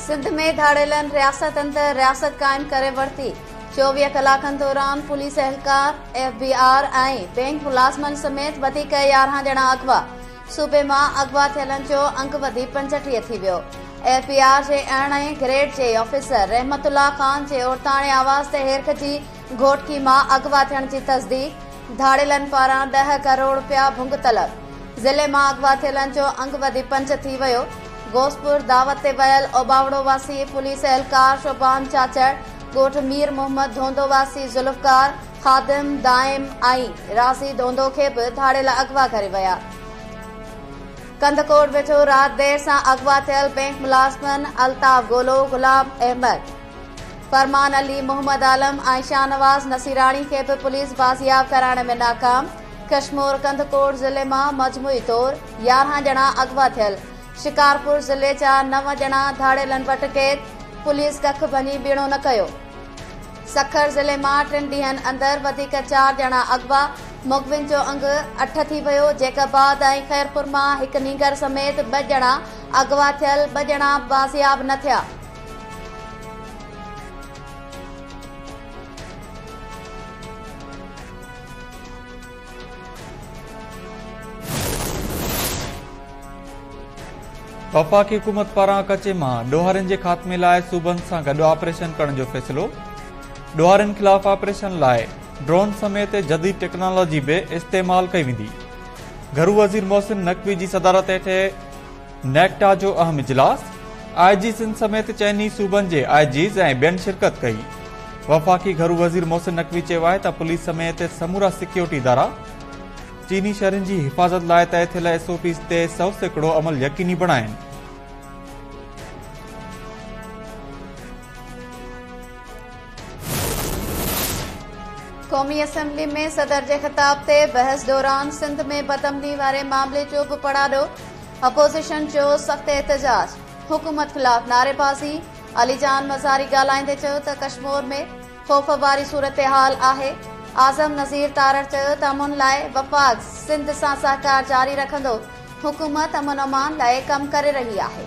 سنڌ ۾ ڌاڙيلن رياست اندر رياست قائم ڪري ورتي، چوويهه ڪلاڪن دوران پوليس اهلڪار، ايف بي آر ۽ بئنڪ ملازمن سميت وڌيڪ يارهن ڄڻا اغوا، صوبي مان اغوا ٿيلن جو انگ وڌي پنجٽيهه ٿي ويو، ايف بي آر جي ارڙهن گريڊ جي آفيسر رحمت الله خان جي عورتاڻي آواز تي هيرڪ جي گهوٽڪي مان اغوا ٿيڻ جي تصديق، ڌاڙيلن پاران ڏهه ڪروڙ رپيا ڀنگ طلب، ضلعي مان اغوا ٿيلن جو انگ وڌي پنج ٿي ويو، غوثپور دعوت تي ويل اوٻاوڙو واسي پوليس اهلڪار شوبان چاچڙ، ڳوٺ مير محمد ڌونڌو واسي ذوالفقار، خادم، دائم ۽ رازي ڌونڌو کي به ڌاڙيل اغوا ڪري ويا. ڪنڌڪوٽ ويجهو رات دير سان اغوا ٿيل بئنڪ ملازمن الطاف گولو، غلام احمد، فرمان علي، محمد عالم ۽ شاهنواز نصيراڻي کي به پوليس بازياب ڪرائڻ ۾ ناڪام، ڪشمور ڪنڌڪوٽ ضلعي مان مجموعي طور يارهن ڄڻا اغوا ٿيل، شڪارپور ضلعي جا نو ڄڻا ڌاڙيلن وٽ قيد، پوليس ڪک ڀڃي ٻيڻو نه ڪيو. سکر ضلعي مان ٽن ڏينهن اندر وڌيڪ چار ڄڻا اغوا، مغوين جو انگ اٺ ٿي ويو، جيڪب آباد ۽ خيرپور مان هڪ نينگر سميت ٻه ڄڻا اغوا ٿيل، ٻه ڄڻا بازياب نه ٿيا. وفاقي حڪومت پاران ڪچي مان ڏوهارين جي خاتمي لاء صوبن سان گڏ آپريشن ڪرڻ جو فيصلو ڏوهارين خلاف آپريشن لاء ڊرون سميت جديد ٽيڪنالاجي به استعمال ڪئي ويندي گهرو وزير محسن نقوي جي صدارت هيٺ نيڪٽا جو اهم اجلاس، آء جي سنڌ سميت چئن ئي صوبن جي آء جيز ۽ ٻين شرڪت ڪئي. وفاقي گهرو وزير محسن نقوي چيو آهي ته پوليس سميت سمورا سيڪيورٽي ادارا چيني شهرين جي حفاظت لاء طئي ٿيل ايس او پيز تي سؤ سيڪڙو عمل يقيني بڻائين. قومي اسيمبلي ۾ صدر جي خطاب تي بحث دوران سنڌ ۾ بدامني واري معاملي جو به پڙاڏو، اپوزيشن جو سخت احتجاج، حڪومت خلاف نعريبازي، علي جان مزاري ڳالهائيندي چيو ته ڪشمور ۾ خوف واري صورتحال آهي، اعظم نذير تارڙ چيو ته امن لاء وفاق سنڌ سان سهڪار جاري رکندو، حڪومت امن امان لاء ڪم ڪري رهي آهي.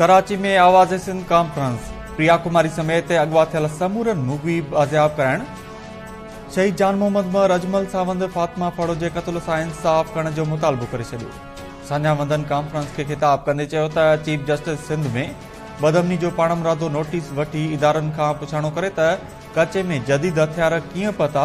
ڪراچي ۾ آواز سنڌ ڪانفرنس پريا ڪماري سميت اغوا ٿيل سمورن مغوي بازياب ڪرائڻ شهيد جان محمد مهر اجمل ساوند فاطمه پڙو جي قتل سان انصاف ڪرڻ جو مطالبو ڪري ڇڏيو سانجا وندن ڪانفرنس کي خطاب ڪندي چيو ته چيف جسٽس سنڌ ۾ بدمني جو پاڻ مرادو نوٽيس وٺي ادارن کان پڇاڻو ڪري ته ڪچي ۾ جديد هٿيار ڪيئن پتا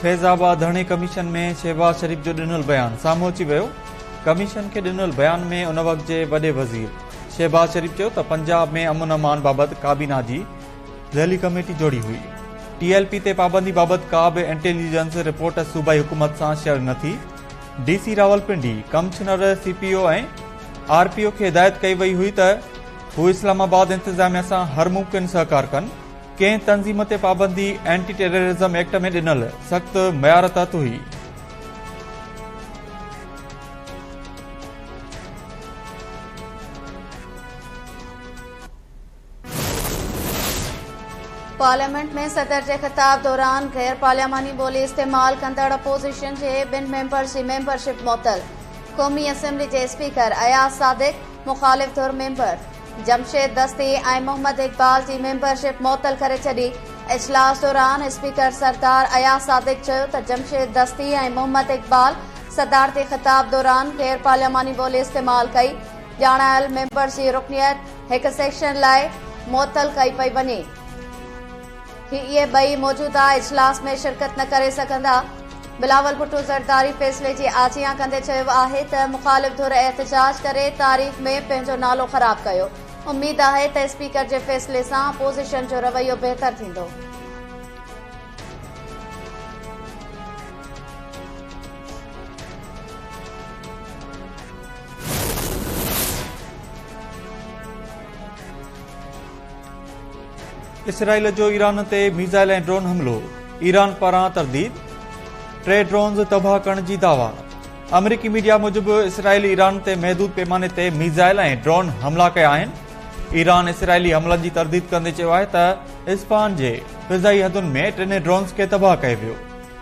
فيض آباد ڌرڻي ڪميشن ۾ شهباز شريف جو ڏنل بيان سامهون اچي ويو، ڪميشن کي ڏنل بيان ۾ ان وقت جي وڏي وزير شهباز شريف چيو ته پنجاب ۾ امن امان بابت ڪابينا جي ذيلي ڪميٽي جوڙي هئي، ٽي ايل پي تي پابندي بابت ڪا به انٽيليجنس رپورٽ صوبائي حڪومت سان شيئر نه ٿي، D C Rawalpindi, commissioner C P O ۽ R P O کي هدايت ڪئي وئي هئي ته هو اسلام آباد انتظاميا سان هر ممڪن سهڪار ڪن، ڪنهن تنظيم تي پابندي اينٽي ٽيررازم ايڪٽ ۾ ڏنل سخت معيار تحت هئي. پارليامينٽ ۾ صدر جي خطاب دوران غير پارلياماني ٻولي استعمال ڪندڙ اپوزيشن جي ٻن ميمبرز جي ميمبرشپ معطل، قومي اسيمبلي جي اسپيڪر اياز صادق مخالف ڌر ميمبر جمشيد دستي ۽ محمد اقبال جي ميمبرشپ معطل ڪري ڇڏي، اجلاس دوران اسپيڪر سردار اياز صادق چيو ته جمشيد دستي ۽ محمد اقبال صدارتي خطاب دوران غير پارلياماني ٻولي استعمال ڪئي، ڄاڻايل ميمبرز جي رڪنيت هڪ سيشن لاء معطل ڪئي پئي وڃي. هي اهي ٻئي موجوده اجلاس ۾ شرڪت نه ڪري سگهندا، بلاول ڀٽو زرداري فيصلي جي آجيان ڪندي چيو آهي ته مخالف ڌر احتجاج ڪري تاريخ ۾ پنهنجو نالو خراب ڪيو، اميد آهي ته اسپيڪر جي فيصلي سان اپوزيشن جو رويو بهتر ٿيندو. اسرائيل جو ايران تي ميزائل ۽ ڊرون حملو، ايران پاران ترديد، ٽي ڊرونز تباهه ڪرڻ جي دعويٰ. آمريڪي ميڊيا موجب اسرائيل ايران تي محدود پيماني تي ميزائل ۽ ڊرون حملا ڪيا آهن. ايران اسرائيلي حملن جي ترديد ڪندي چيو آهي ته اسفهان جي فضائي حدن ۾ ٽنهي ڊرونز کي تباهه ڪيو ويو.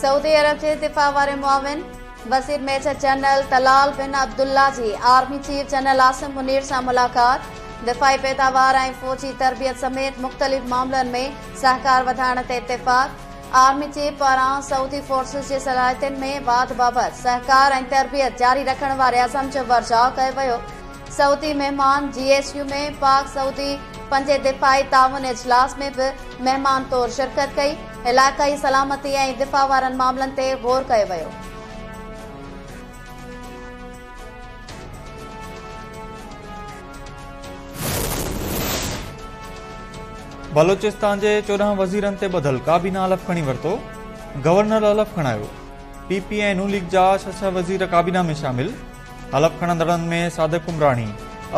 سعودي عرب جي دفاع واري معاون وزير major general Talal bin Abdullah جي army chief general Asim Munir سان ملاقات دفاعي پيداوار ۽ فوجي تربيت سميت مختلف معاملن ۾ سهڪار وڌائڻ تي اتفاق آرمي چيف پاران سعودي فورسز جي صلاحيتن ۾ واڌ بابت سهڪار ۽ تربيت جاري رکڻ واري عزم جو ورجاء ڪيو ويو سعودي مهمان جي ايس يو ۾ پاڪ سعودي پنجين دفاعي تعاون اجلاس ۾ به مهمان طور شرڪت ڪئي، علائقائي سلامتي ۽ دفاع وارن معاملن تي غور ڪيو ويو. بلوچستان جي چوڏهن وزيرن تي ٻڌل ڪابينا حلف کڻي ورتو، گورنر حلف کڻايو، پي پي ۽ ن ليگ جا ڇهه ڇهه وزير ڪابينا ۾ شامل، حلف کڻندڙن ۾ صادق عمراڻي،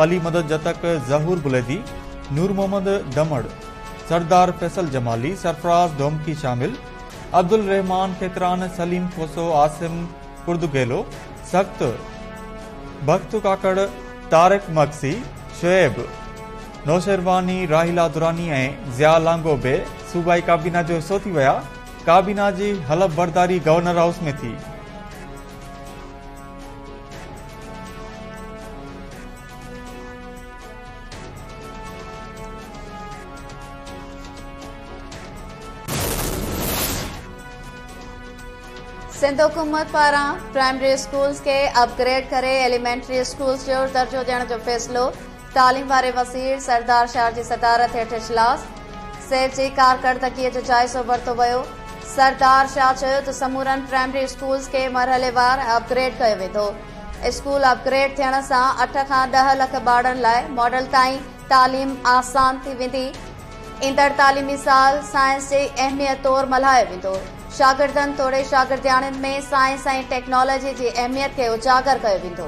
علي مدد جتڪ، ظهور بليدي، نور محمد ڊمڙ، سردار فيصل جمالي، سرفراز ڌومڪي شامل، عبدالرحمان کيتران، سليم کوسو، عاصم ڪڙدگيلو، سخت، بخت ڪاڪڙ، طارق مگسي، شعيب نوشهرواني، راحيلا دراني ۽ ضياء لانگو به صوبائي ڪابينا جو حصو ٿي ويا، ڪابينا جي حلف برداري گورنر هائوس ۾ ٿي. سنڌ حڪومت پاران پرائمري اسڪولز کي اپ گريڊ ڪري ايليمينٽري اسڪولز جو درجو ڏيڻ جو فيصلو تعليم واري وزير سردار شاهه جي صدارت هيٺ اجلاس، سيف جي ڪارڪردگيء جو جائزو ورتو ويو. سردار شاهه چيو ته سمورن پرائمري اسڪولز کي مرحليوار اپ گريڊ ڪيو ويندو، اسڪول اپ گريڊ ٿيڻ سان اٺ کان ڏهه لک ٻارڙن لاء ماڊل تائين تعليم آسان ٿي ويندي، ايندڙ تعليمي سال سائنس جي اهميت طور ملهايو ويندو، شاگردن توڙي شاگردياڻين ۾ سائنس ۽ ٽيڪنالاجي جي اهميت کي اجاگر ڪيو ويندو.